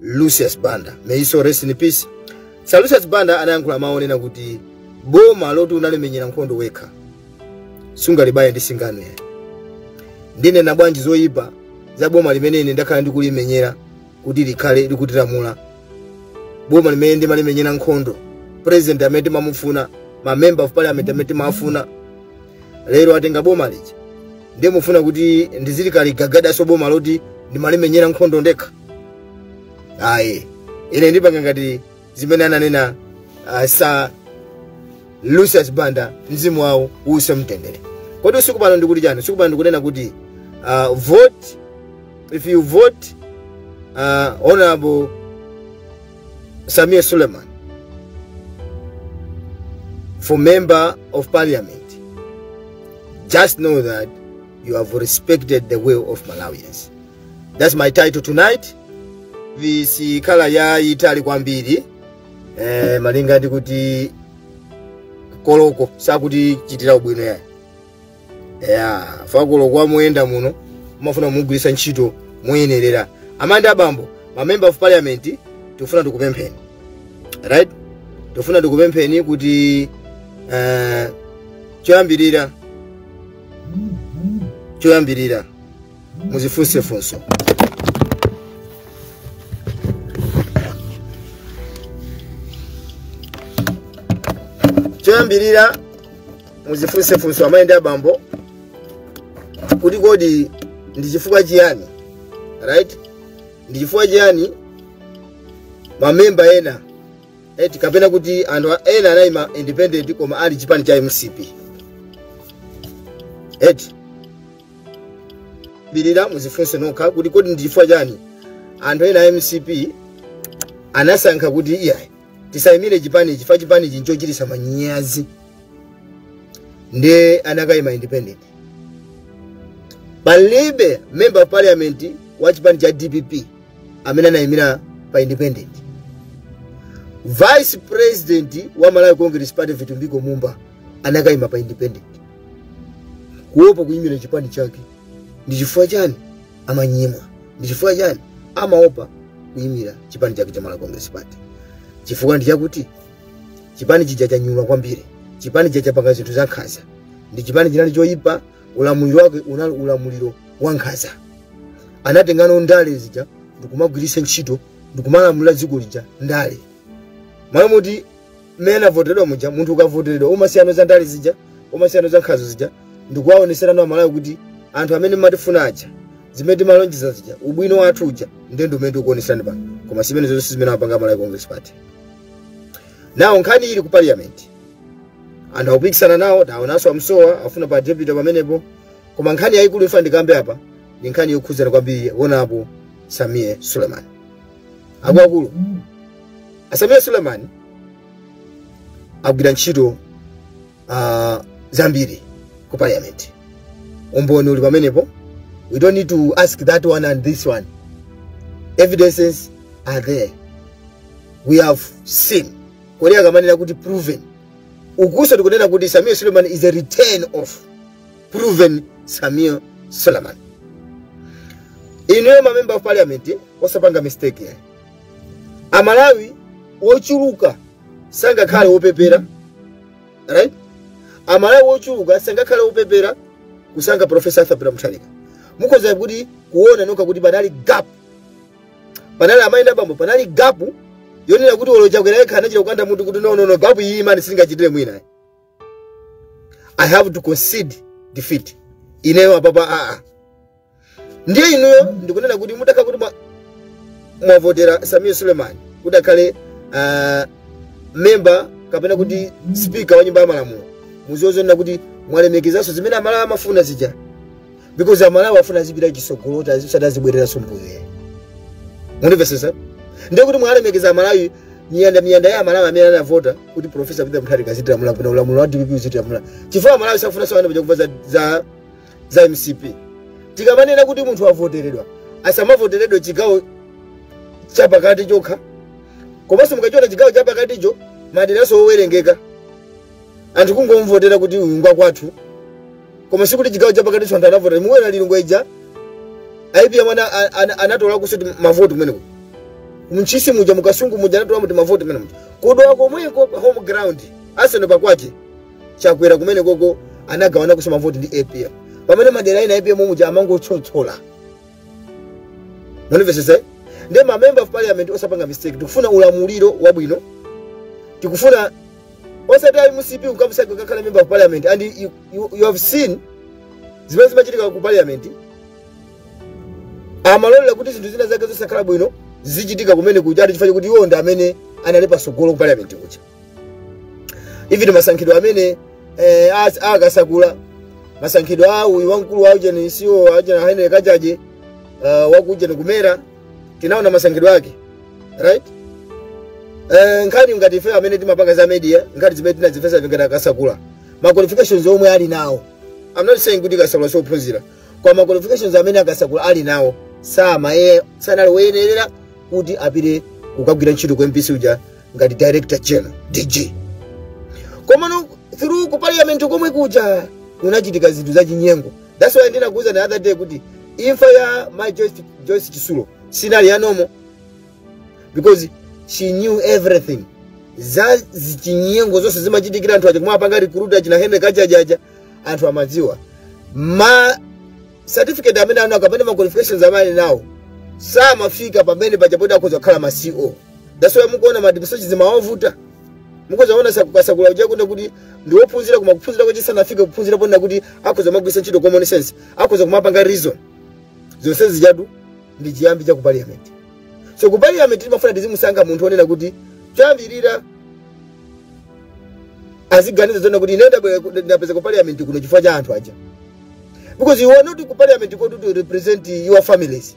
lucius banda may his soul rest in peace sir lucius banda anayankhula mawu onena kuti boma loti unalimenyera nkhondo wekha sungalibaye ndi singano yayi ndinena bwanji zoyipa za boma limene ine ndakhala ndikulimenyera kuti likhale likutilamula boma limene ndimalimenyera nkhondo president amene timamufuna ma member of parliament amene timawafuna lero atenga boma lija ndiye mufuna kuti ndiziligagadaso boma loti ndimalimenyera nkhondo ndekha ayi ine ndipanga ngati zimene ananena uh, sa lucius banda mzimu wawo uuse mtendere kodi usiku pano ndikuti chani usiku pano ndikunena kuti uh, vote if you vote uh, honorable Sameer Suleman for member of parliament, just know that you have respected the will of Malawians. That's my title tonight. Video sikhala yayitali kwambiri eh, malinga ndi kuti koloko sakutichitira ubwino yayi ya kuti koloko amayenda ndiye umafuna umugwiritse ntchito moyenerera amayi ndi abambo ma member of parliament tifuna tikupempheni right tifuna tikupempheni kuti eh, choyambirira choyambirira muzifunse funso choyambirira muzifunse funso amayi ndi abambo kuti kodi ndi chifukwa chiyani right ndi chifukwa chiyani mamemba ena eti kapena kuti anthu a- ena anayima independent koma ali chipani cha mcp eti believer muzifunse nokha kuti kodi ndi chifukwa chani anthu ena a mcp anasankha kuti iyayi tisayimire chipani chifukwa chipani nchochititsa manyazi ndiye anakayima independent palibe member of parliament wa chipani cha dpp amene anayimira pa independent vice president wa malawi congress party vitumbiko mumba anakayima pa independent kuopa kuyimira chipani chake ndi chifukwa chani amayima ndi chifukwa chani amaopa kuyimira chipani chake cha malawi congress party chifukwa ndi chakuti chipani chija chanyula kwambiri chipani chija chapanga zinthu za nkhanza nde chipani chinali choyipa ulamuliro wake unali ulamuliro wa nkhanza anatengano ndale zija ndikumagwiritsa ntchito ndikumalamulira dziko lija nde amayenera kuti mmene anavoteredwa muja munthu ukavoteredwa umasiyano za ndale zija umasiyano za nkhanza zija ndikuwaonetserano amalawi kuti anthu amene matifuna aja zimene timalonjeza zija ubwino wathu uja nde ndi umene tikuoneserani pano koma simene zonse zimene apanga a malawi congress party nawo nkhani ili ku parliament anthu akupikisana nawo taonanso amsowa afuna pa deputy pamenepo koma nkhani yayikulu ifuna ndikambe apa ndi nkhani yokhudzana kwambiri honourable sameer suleman akuluakulu a sameer suleman agwira ntchito uh, zambiri ku parliament umboni uli pamenepo we don't need to ask that one and this one evidences are there we have seen nde akamanena kuti proven ukuuso tikunena kuti sameer suleman is a return of proven sameer suleman inuyo mamember of parliament osapanga mistake yayi amalawi ochuluka sangakhale opepera right amalawi ochuluka sangakhale opepera kusankha profesa arthur peter mutharika mukhoza kuona nokha kuti panali gap panali amayi ndi bambo panali gap yonena kuti olo chakwera yekha anachita kukanda mutu kuti no no no gap iyi ayi man sindingachitire mwina i have to concede defeat ineyo apapa aa ndiye inuyo ndikunena kuti mutakhala kuti mwa- mwavotera sameer suleman kuti akhale ah, memba kapena kuti spika wa nyumba ya malamulo muziwe zonena kuti mwalemekezanso zimene amalawi amafuna zija because amalawi afuna azipita chisogolo kuti osati azibwereranso mbuyo ayi mundimvesese ndiye kuti mwalemekeza amalawi miyanda miyanda ya amalawi amene anavota kuti profesa peter mutharika azitilamula bwino ulamuliro wa dpp uzitilamula chifukwa amalawi safunanso anatopa kumva za- za za mcp tikamanena kuti munthu wavoteredwa asamavoteredwe chigawo chapakati chokha komanso kachiona chigawo chapakaticho maderanso owerengeka anthu kungomvotera kuti uyu ngwa kwathu koma sikuti chigawo chapakaticho anthu anavotera mukuona lilongwe ija apm ana- ana- ana- anatola kuso mavoti kumeneko ntchisi muja mukasungu muja anatola mavoti kumeneko ku dowa komweko pa home ground atseno pakwake chakwera kumenekoko anagawana kuso mavoti ndi apm pamene madera ena apm muja amangotchotchola mundimvesese nde ma member of parliament osapanga mistake tikufuna ulamuliro wabwino tikufuna osati ayi mcp ukamusankha akakhala member of parliament and you, you, you have seen zimene zimachitika ku parliament amalolera kuti zinthu zina zake zosakhala bwino zichitika kumenekuja ati chifukwa kuti iwo ndi amene anali pasogolo ku parliament kuja even masankhidwe amene eh, as- a kasakula masankhidwe a uyu wamkulu wa ujeni si awo ajena henry kachaje uh, wa kujeni ku mera tinaona masankhidwe ake right Eh, nkhani ngati ife amene timapanga za media nkhani zimene tinazifufuza ngati a kasakula ma qualifications omwe ali nawo i'm not saying kuti kasakula siophunzira koma ma qualifications amene a kasakula ali nawo sama ye sanali woyenerera kuti apite kukagwira ntchito ku mbc uja ngati director general dg komano through ku parliament komwe kuja kunachitika zinthu zachinyengo that's why ndinakuuza the other day kuti imfa ya mai joyce, joyce chitsulo sinali ya normal because she knew everything za zichinyengo zonse zimachitikira anthu aja mmene apanga recruit achina henry kachaje aja anthu amadziwa ma certificate amene ali nawo kapena ma qualifications amene ali nawo samafika pamene paja poti akhoza kukhala ma ceo that's why mukuona madibuso zimawavuta mukuzaona kasakula uja inde kuti ndiwophunzira koma kuphunzira kwache sanafike kuphunzira ponena kuti akhoza kumagwiritsa ntchito common sense akhoza kumapanga reason zonse zijatu ndi chiyambi cha ku parliament so ku parliament timafuna tizimusankha munthu onena kuti choyambirira aziganiza zonena kuti ine ndabwera- ndapeza ku parliament kuno chifukwa cha anthu aja because you are not ku parliament kuti uzi represent your families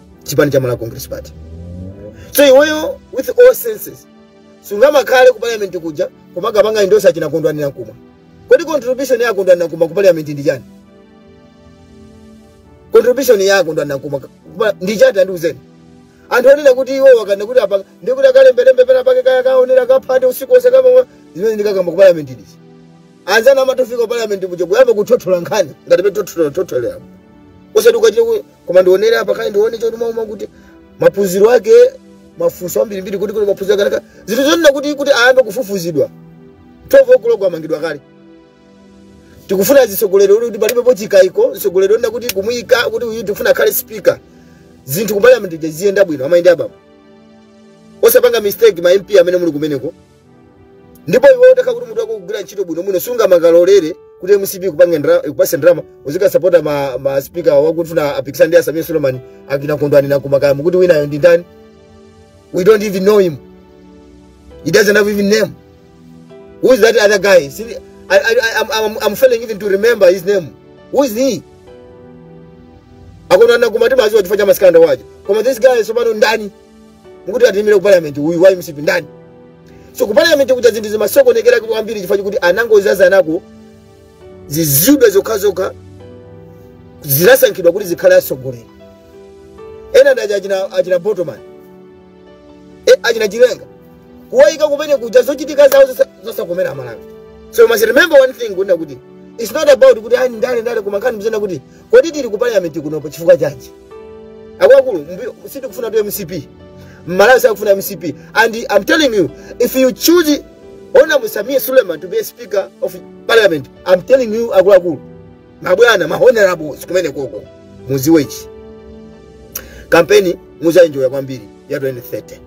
chipani cha malawi congress party so iweyo with all senses sungamakhale ku parliament kuja kumakapanga endorse achina kondwani nankhumwa kodi contribution ya kondwani nankhumwa ku parliament ndi chani contribution ya kondwani nankhumwa ku- ndi chani tandiuzeni anthu onena kuti iwo akana kuti apa ndi kuti akalembelembe pena pake kaya kaonera ka heart usiku onse kaya zimene ndikakamba ku parliament ndi izi anzawo amangofika ku parliament kuja kuyamba kuthothola nkhani ngati petothotoleramo osati ukachita ku- koma ndionere apa kaye ndione chotima uma kuti maphunziro ake mafunso ambirimbiri kuti kuti maphunziro ake anakhala zinthu zonena kuti kuti ayambe kufufuzidwa 12 o'clock amangidwa kale tikufuna atsogoleri oti kuti palibepo chikaiko atsogoleri onena kuti kumuyika kuti uyu tikufuna akhale speaker zinthu ku parliament ziyenda bwino amayenda abambo osapanga mistake ma mp amene muli kumeneko ndipo iwe utakhala kuti mutu wako ukugwira ntchito bwinobwino sungamangalolere kuti mcp ikupange ndra- ikupatse ndalama uzikasapota ma, ma speaker akufuna apikisane ndi a sameer suleman akina kondwani nankhumwa kuti winayo ndi ndani we don't even know him he doesn't have even name who is that other guy See, I, I, I, I'm, I'm, I'm failing even to remember his name who is he a kondwani nankhumwa timadziwa chifukwa cha ma scandal awo koma this guy tsopano ndani mukuti atiyimire ku parliament uyu wa mcp ndani so ku parliament kuja zinthu zimasokonekera kwambiri chifukwa chikuti anangozazanako zizidwe zokhazokha zinasankhidwa kuti zikhale atsogoleri ena ndi aja achina, achina botoman e, achina chilenga kuwayika kumene kuja zochitika zawo zosa- zosakomera amalawi so you must remember one thing kunena kuti its not about kuti ani ndale ndale koma nkhani zonena kuti Kodi tili ku parliament kuno pa chifukwa chanji? Akuluakulu, mbi- sitikufunatu mcp. Mmalawi sakufuna mcp. And I'm telling you, if you choose Honorable Samia Suleiman to be a speaker of parliament, I'm telling you akuluakulu, mabwana, ma honorables kumene koko, muziwe ichi. Kampeni muzaenjoya kwambiri ya 2030.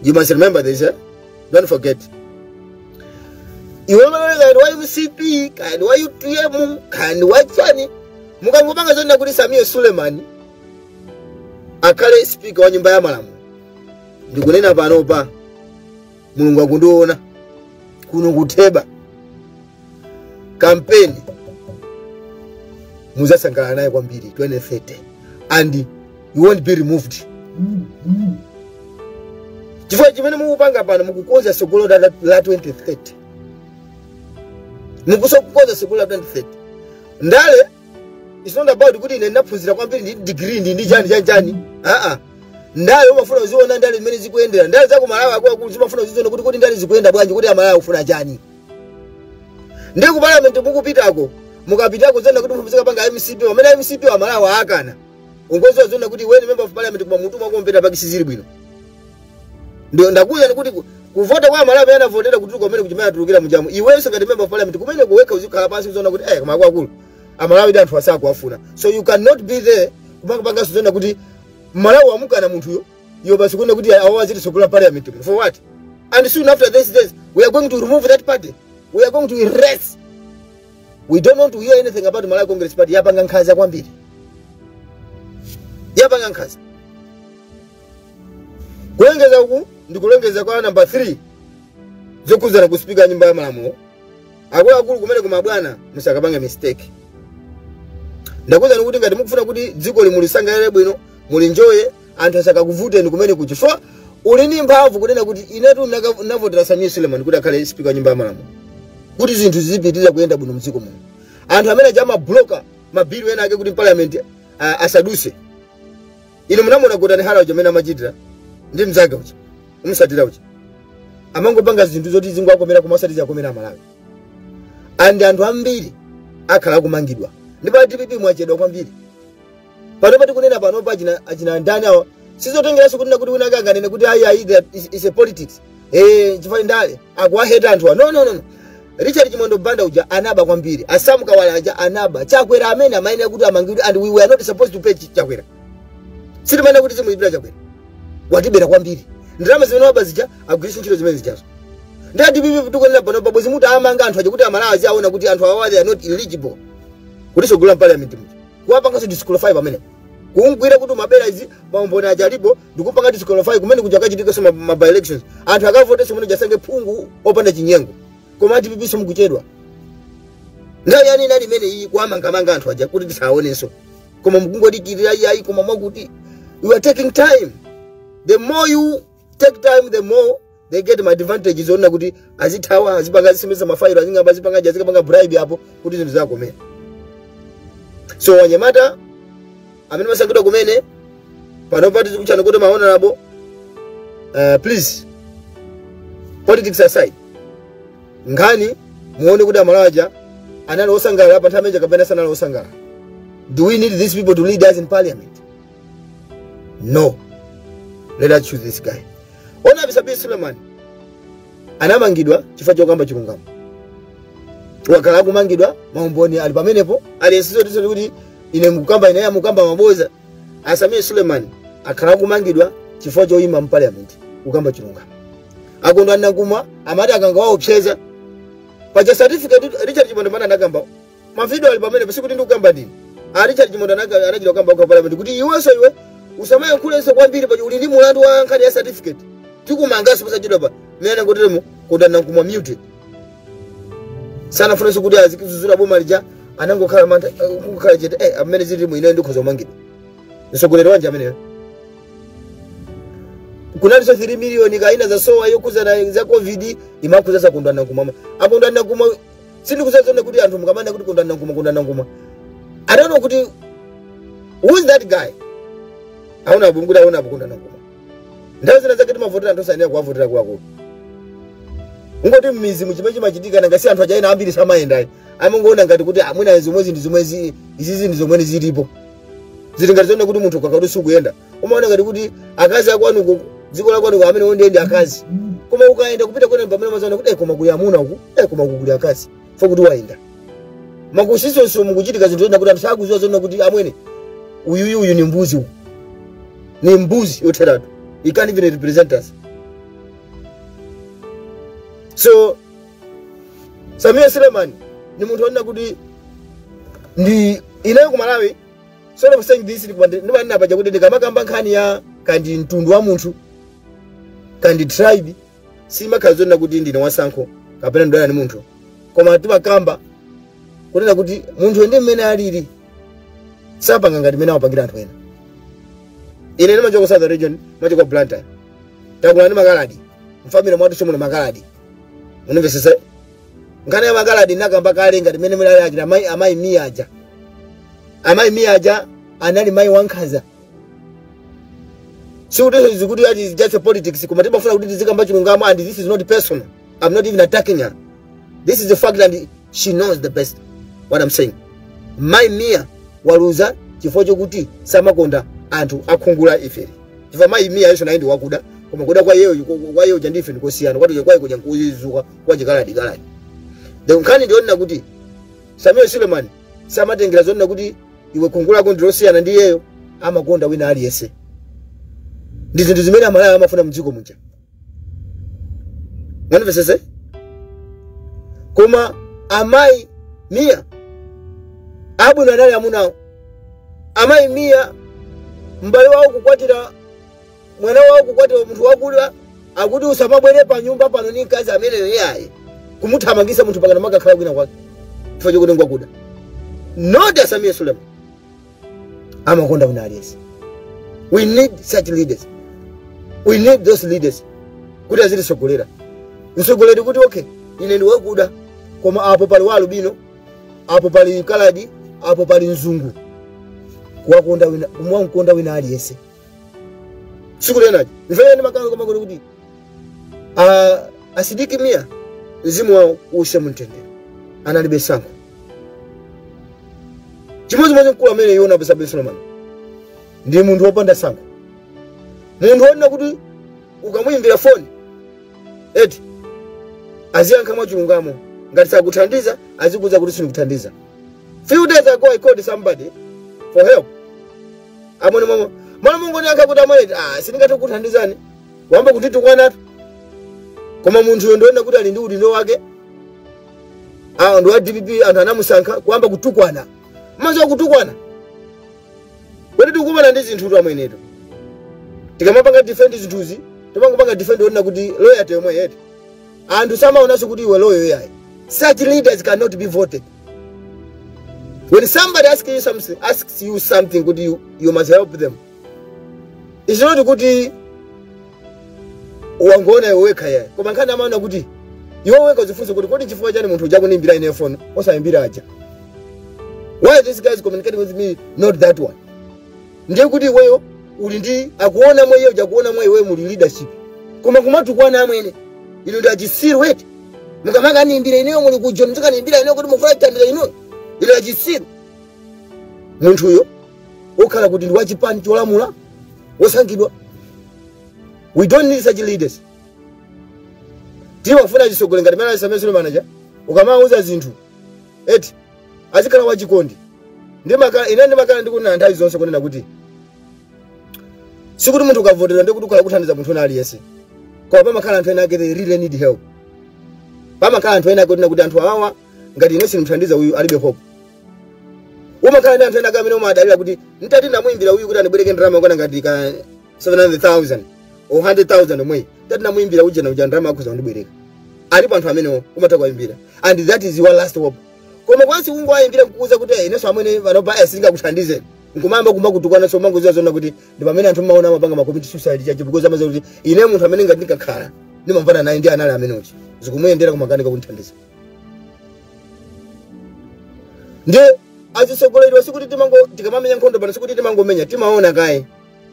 You must remember this, eh? don't forget iwe kaya ndi wa mcp kaya ndi wa utm kaya ndi wa chani mukangopanga zonena kuti samia suleman akhale spika wa nyumba ya malamulo ndikunena panopa mulungu akundiona kuno kutheba kampeni muzasangalala naye kwambiri 2030 and you won't be removed chifukwa chimene mukupanga pano mukukonza tsogolo la la 2030 mukuko- kukonza tsogolo la 2030 ndale it's not about kuti ine ndinaphunzira kwambiri ndi degree ndi ndi chani chani chani aa ndale umafuna uziona ndale zimene zikuyendera ndale za kumalawi akuluakulu zimafuna uziziona kuti kuti ndale zikuyenda bwanji kuti amalawi akufuna chani ndiye ku parliament mukupitako mukapitako zonena kuti mupezeka mukupanga mcp pamene mcp amalawi akana ungoziwa zonena kuti iwe ni member of parliament koma mutu mwako mpeta paki sizili bwino ndiye ndakuwuzani kuti ku- kuvota kwa amalawi anavotera kuti kumene kuchimene atulukira mujamu iwenso ngati member of parliament kumene kujako uzikhala pansi uziona kuti eh koma akulu amalawi ndi anthu asakuwafuna so you cannot be there kumakapanganso zonena kuti amalawi amukana munthuyo Iwo basi kuona kuti awo azititsogolera parliament muno. For what? And soon after this days we are going to remove that party. We are going to erase. We don't want to hear anything about Malawi Congress Party yapanga nkhanza kwambiri. Yapanga nkhanza. Kulengeza uku ndi kulengeza kwa number 3 zokhuzana ndi sipika nyumba ya malamulo. Akuluakulu kumeneko mabwana musakapange mistake. ndakuwuzani kuti ngati mukufuna kuti dziko ili mulisangalale bwino mulinjoye anthu asakakuvuteni kumene kuja chifukwa uli ndi mphamvu kunena kuti inetu ndinaka- ndinavotera samia suleman kuti akhale spika wa nyumba ya malamulo kuti zinthu zizipitirira kuyenda bwino mdziko muno anthu amene aja amabloka mabhilu ena ake ku parliament ah, asaduse inu munamuona gotani hara uja amene amachitira ndi mzake uja umsatira uja amangopanga zinthu zoti zingowakomera koma osati ziwakomera amalawi and anthu ambiri akhala akumangidwa ndipo a dpp mwachedwa kwambiri panopa tikunena panopa achina achina ndani awa sizotengeranso kuti nakuti wina ake anganene kuti ayi ayi that is, is a politics eh chifukwa ndale akuwaheta anthu wa no no no no richard chimwendo banda uja anaba kwambiri asamu kawale aja anaba chakwera amene amayenera kuti amangidwe and we were not supposed to pay Ch- chakwera sitimayenera kuti timulipira chakwera watibera kwambiri ndalama zimene waba zija agwiritse ntchito zimene zijazo ndiye adipipi tikuonera panopa bwenzi mutawamanga anthu aja kuti amalawi aziwaona kuti anthu awa they are not eligible kuti atsogolere mpaliyamenti muja kuwapangaso disqualify pamene kumgwira kuti umabera izi maumboni aja alipo ndikumpanga disqualify kumene kuja akachitika so ma by elections anthu akavote so kumene kuja asankhe phungu opanda chinyengo koma adipipiso mkuchedwa nthawi yani inali imene iyi kuwamangamanga anthu aja kuti tisaonenso koma mkungodikirira iyayi koma mwakuti you are taking time the more you take time the more they get ma advantage zoona kuti azithawa azipanga azisemesa mafailo azingoba azipanga aja azikapanga bribe apo kuti zinthu ziwakomere so anyamata amene mwasankhidwa kumene panopa tizikutchani kuti mahonorable uh, please politics aside nkhani muone kuti amalawi aja anali osangalala pa nthawi imeneja kapena sanali osangalala do we need these people to lead us in parliament no let us choose this guy honourable sameer suleman anamangidwa chifukwa chokamba chilungamo wakhala akumangidwa maumboni ali pamenepo alipo sizoti kuti ine ndikukamba ine ndikukamba maboza a sameer suleman akhala akumangidwa chifukwa choyima mpaliamenti kukamba chilungamo a kondwani nankhumwa amati akangowaopseza paja certificate richard chimwendo banda anakamba mavidiyo ali pamenepa sikuti ndikukamba ndine a richard chimwendo banda aka- anachita kukamba okha parliament kuti iwenso iwe usamayankhulenso kwambiri paja uli ndi mulandu wa nkhani ya certificate tikumanganso posachedwa pamene atangoteremo kondwani nankhumwa mute sanafunenso kuti azidzudzula boma lija anangokhala mantha eh, kukhala chete eh, mmene zililimu ineyo ndikhoza kumangidwa mtsogoleri wanji ameneyo kunalinso 3 miliyoni kaya inazasowa yokhudzana za covid imakhudzanso a kondwani nankhumwa a kondwani nankhumwa sindikuziwa zonena kuti anthu mukamanena kuti kondwani nankhumwa kondwani nankhumwa i don't know kuti who is that guy honourable kuti honourable kondwani nankhumwa nthawi zina zake timavotera anthu osayenera kuwavotera kungokuti mmidzimu chimene chimachitika nanga si anthu achaina ambiri samayendayi amangoona ngati kuti amwina zomwezi ndi zomwezi izizi ndi zomwe zilipo zili ngati zonena kuti munthu ukakhala kuti sukuyenda umaona ngati kuti akazi akwanuko dziko lakwanuko ameneo ndiye ndi akazi koma ukayenda kupita kwina ndi pamene umazaona kuti "Eh, koma kuli amuna uku eh, koma uku kuli akazi fo kuti wayenda mmakusisonso mukuchitika zinthu zina kuti anthu sakuziwa zonena kuti amwene uyuyu uyu ni mbuzi uku ni mbuzi yotheratu he can't even represent us so sameer suleman ni munthu onena kuti ndi hero ku malawi sort of saying this ndimanena paja kuti ndikamakamba nkhani ya kandi mtundu wa munthu kandi tribe sindimakhala ndikunena kuti ndine wasankho kapena ndidana ndi munthu koma timakamba kunena kuti munthu ndi mmene alili sapanga ngati mmene amapangira anthu ena ine ndimachoka ku southern region ndimachoka ku blantyre ndakula ndi makaladi mfamile mwathu chomwe makaladi undimvetsetse nkhani ya makaladi ndakamba kale ngati mmene mudali akina amayi amayi miya aja amayi miya aja anali mayi wankhanza sikuti izi kuti ati it's just a politics koma timafuna kuti tizikamba chilungamo and this is not personal i'm not even attacking her this is the fact and she knows the best what i'm saying mayi miya waluza chifukwa chokuti samakonda anthu a khungu la ifeli chifukwa mayi miya yonso naye ndi wakuda koma kuda kwa iyeyo kwa iyeyo kuja ndi ife ndikosiyana kwati kwake kuja nkuyezuka kwa chikaladi kaladi the nkhani ndiyonena kuti samuel suleman samatengera zonena kuti iwe khungu lako ndilosiyana ndi iyeyo amakonda wina aliyense ndi zinthu zimene amalawi amafuna mdziko muja mundimvetsetse koma amayi miya abwino anali amunawo amayi miya m'bale wawo kukwatira mwana wawo kukwatiwa munthu wakuda akuti usamabwere pa nyumba pano ndi mkazi ameneyo iyayi kumuthamangisa munthu mpakana kumakakhala kwina kwake chifukwa chokuti ngwakuda not a sameer suleman amakonda wina aliyense we need such leaders we need those leaders kuti azititsogolera mtsogoleri kuti okay ine ndi wakuda koma apo pali wa alubino apo pali kaladi apo pali mzungu kuwakonda wina kumamkonda wina aliyense tsiku lina lija munamvera ndimakamba komweko kona kuti a- asidiki miya mzimu wawo uuse mumtendere analibe tsankho chimodzimodzi mkulu amene uyu honourable suleman ndi munthu wopanda tsankho munthu wonena kuti ukamuyimbira foni eti aziyankha mwachilungamo ngati sakuthandiza azikuuza kuti sindikuthandiza few days ago i called somebody for help amwene mama mwana mungondiyankha kuti amwene ah sindingathe kukuthandizani ayamba kunditukwanatu koma munthuyo ndiona kuti ali ndi udindo wake awo ndi wa dpp anthu anamusankha kuyamba kutukwana mazo kutukwana kodi timakumana ndi zinthu twamwenetu tikamapanga defend zinthuzi timangopanga defend ponena kuti loyalty yomwe yathu anthu samaonanso kuti iwe loyal iyayi such leaders cannot be voted When somebody asks you something, asks you something kuti you, you must help them. It's not kuti wangona iwe wekha yayi. Koma nkhani imakhala kuti iwe wekha uzifunse kuti kodi chifukwa chani munthu uja kundiimbira ine phone osayimbira aja. Why this guy is communicating with me not that one? ndiye kuti iweyo uli ndi akuona mwa iye uja akuona mwa iweyo muli leadership koma kumatukwana amwene inu ndi achisiru eti mukamakaniimbira ineyo muli ku john muzikaniimbira ineyo kuti mufuna chithandizo inuyo inu achisiru munthuyo okhala kuti ndi wachipani cholamula wosankhidwa we don't need such leaders tiwafuna atsogoleri ngati mene alili a Suleman aja ukamawuza zinthu eti azikhala wachikondi ndimakhala ine ndimakhala ndikunena nthawi zonse kunena kuti sikuti munthu ukavoteredwa ndiye kuti ukhala ukuthandiza munthu wina aliyense koma pamakhala anthu ena ake they really need help pamakhala anthu ena ake kunena kuti anthu awawa ngati ine sindimuthandiza uyu alibe hope umakhala ndi anthu ena ake amene umadalira kuti nditati ndamuyimbira uyu kuti andibwereke ndalama yokwana ngati ka 700,000 or 100,000 omwe nditati ndamuimbira uje na uja ndalama akhoza kundibwereka alipo anthu amenewo umatha kuwayimbira and that is your last hope koma once ungowayimbira kukuuza kuti "Eh, inenso amene panopa aya sindingakuthandize nkumayamba kuyamba kutukwana so umangoziwa zoona kuti ndi pamene anthu mmaona amapanga amakomita suicide because amaziwa kuti ine munthu amene ngati ndikakhala ndimamvana naye ndi anali amene uja zikumuyendera kumakanika kundithandiza ndiye azitsogoleriwa sikuti timango tikamamenya nkhondo pano sikuti timangomenya timaona kaye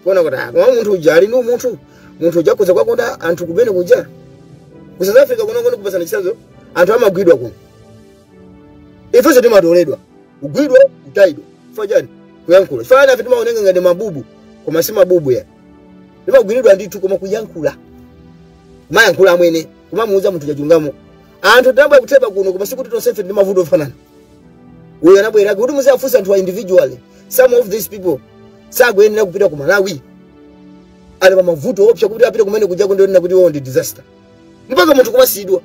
kuona kuti ah, koma munthu uja ali ndi umunthu munthu uja akhoza kuwakonda anthu kumene kuja ku south africa kuno ndingokupatsani chitsanzo anthu amagwidwa kuno ifenso timatoledwa kugwidwa kutayidwa chifukwa chani kuyankhula chifukwa ena a ife timaoneka ngati mabubu koma si mabubu ya timagwiridwa ndithu koma kuyankhula kumayankhula amwene kumamuuza munthu chilungamo anthu tinabwera kutheba kuno koma sikuti tonsefe ndi mavuto ofanana uyo anabwera kuti muziwafunsa anthu a individually some of these people sakuyenera kupita ku malawi ali pa mavuto oopsa kuti apite kumene kuja kunena kuti iwowo ndi disaster mpaka munthu kumasiyidwa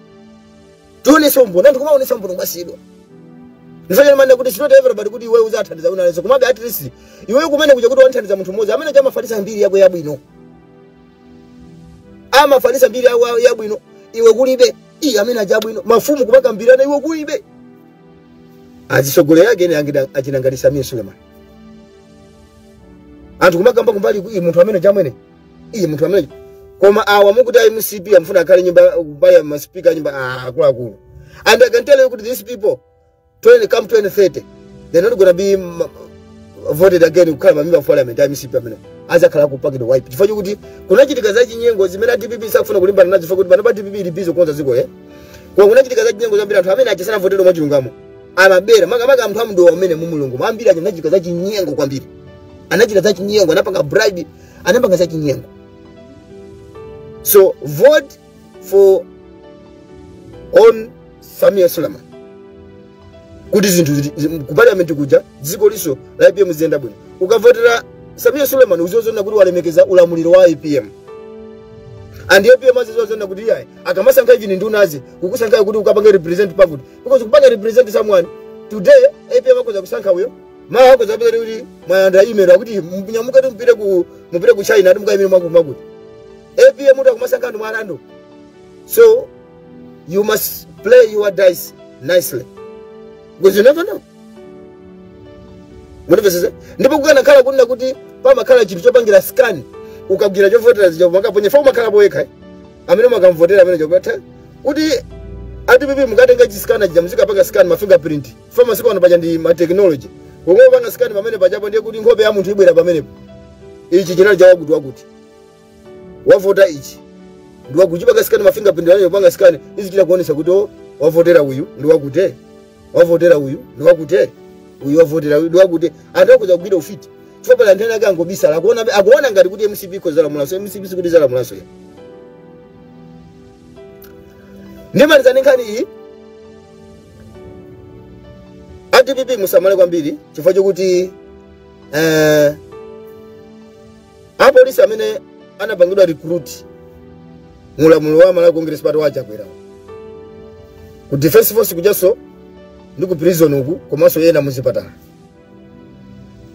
tionese umboni anthu kumaonesa umboni kumasiyidwa ndifanyana manda kuti it's not everybody kuti iwe uzathandiza wina aliyense komabe at least iwe kumene kuja kuti wamthandiza munthu mmodzi amene uja amafalisa mbiri yako yabwino amafalisa mbiri yako yabwino iwe kulibe iye amene uja abwino mafumu kumakambirana iwo kulibe azisogoleri ake ena angida- achina Namalisa amwene sulemani anthu kumakamba kumbali ku- iye munthu amene chamwene iye munthu amene koma awa mukuti a mcp akufuna akhale nyumba kubaya maspika nyumba ah, akuluakulu and i can tell you kuti these people 20, come 2030 they're not gonna be mm, voted again kukhala ma member of parliament a mcp amene azakhala atapangidwa wipe chifukwa chokuti kunachitika za chinyengo zimene a dpp sakufuna kulimbana nazo chifukwa choti pano pa dpp ili busy kukonza dziko eh koma kunachitika za chinyengo zambiri anthu amene aja sanavoteredwe mwa chilungamo amabera makamaka anthu a mu Dowa amene mu Lilongwe ambiri aja anachitika za chinyengo kwambiri anachita za chinyengo anapanga bribe anapanga za chinyengo so vote for Samia Suleiman kuti zinthu zili- zi- ku parliament kuja dziko linso la APM ziyenda bwino ukavotera Samia Suleiman uziwazona kuti walemekeza ulamuliro wa APM and APM aziwazona kuti iyayi akamasankha ichi ndiwonadi kukusankha kuti ukapange represent pakuti because kupanga represent someone today APM akoza kusankha uyo mawa akoza kupita kuti mwalandira email akuti munyamuke kuti mupite ku mupite ku China ati mukaimire mwakuti mwakuti apm kuti akumasankha anthu mwa random so you must play your dice nicely because you never know mundimvetsetse ndipo kukanakhala kunena kuti pamakhala chinthu chopangira scan ukagwira chovotera zija mukamaponya paja umakhala poyekha eh? amene mukamuvotera amene chopatha kuti atipipi mukatenga chi scanner chija muzikapanga scan ma fingerprint paja masiku ano paja ndi ma technology pomwe upanga scan pamene pajapo ndiye kuti nkhope ya munthu ibwera pamenepo ichi chinali chawakuti wakuti wavota ichi ndi wakuti kupanga scan ma fingerprint ndiye upanga scan izichita kuonesa kuti oh, wavotera uyu ndi wakuti wavotera uyu ndi wakuti uyu wavotera uyu ndi wakuti anthu akhoza kugwira ufiti chifukwa pali anthu ena ake angobisala akuona akuona ngati kuti mcp ikhoza kulamulanso mcp sikuti izalamulanso ya ndimaliza ndi nkhani iyi a dpp musamale kwambiri chifukwa chokuti eh, apolisi amene anapangidwa recruit mu ulamuliro wa malawi congress party wa chakwera ku defense force kujanso ndi ku prison uku komanso ena muzipatala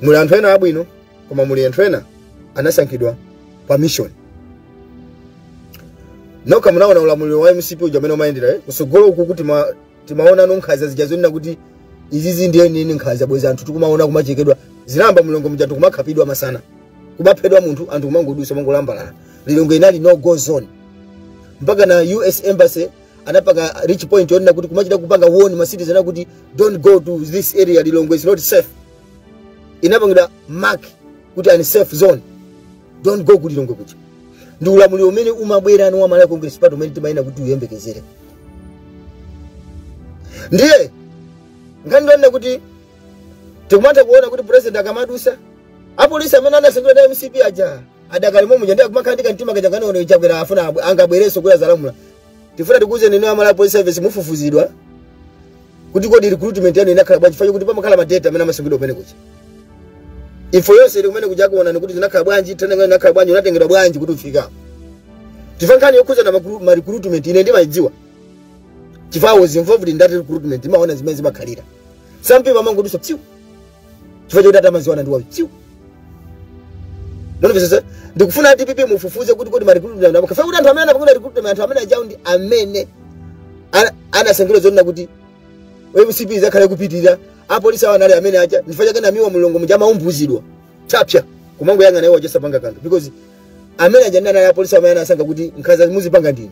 muli anthu ena abwino koma muli anthu ena anasankhidwa pa mission nokha munaona ulamuliro wa mcp uja amene umayendera eh? kusogolo uku kuti ma timaonano nkhanza zija zonena kuti izizi ndiye zenizeni nkhanza bwezi anthu tikumaona kumachekedwa zinayamba mu lilongwe muja anthu kumakhapidwa masana kumaphedwa munthu anthu kumangodusa kumangolambalala lilongwe inali no go zone mpaka na us embassy anapanga reach point yonena kuti kumachita kupanga warn ma citizen kuti don't go to this area lilongwe is not safe inapangidwa mark kuti unsafe zone don't go ku lilongwe kuja ndi ulamuliro umene umabwera ni wa malawi congress party umene timayenera kuti uyembekezere ndiye ngati ndonena kuti tikumatha kuona kuti president akamadusa apolisi amene anasankhidwa na mcp aja adakali momuja ndiye akumakhala ndi kamtima kaja konena a chakwera afuna abwe- angabwerenso kuti azalamula tifuna tikuuzeni inu amalawi police service mufufuzidwa kuti kodi recruitment yanu inakhala bwanji file kuti pamakhala ma data amene amasungidwa kumene kuja info yonse ili kumene kuja akuoneni kuti zinakhala bwanji training yanu inakhala bwanji munatengedwa bwanji kuti mufike chifukwa nkhani yokhuza na makru- ma recruitment ine ndimayidziwa chifukwa I was involved in that recruitment imaona zimene zimakhalira some people amangodutsa psiu chifukwa chakuti amadziwana ndi wautsiku mwandimvetsetsa ndikufuna a dpp mufufuze kuti kodi marecruitment awo akufuna kuti anthu amene anapangidwa recruitment anthu amene ajawo ndi amene ana- anasankhidwa zonena kuti mcp izakhale kupitirira apolisi awo anali amene aja ndifukwa chake namiwa mulungu muja amaumbudzidwa tapsa kumangoyang'ana iwo osapanga kanthu because amene aja ndi anali apolisi amene anasankha kuti nkhaza muzipanga ndinu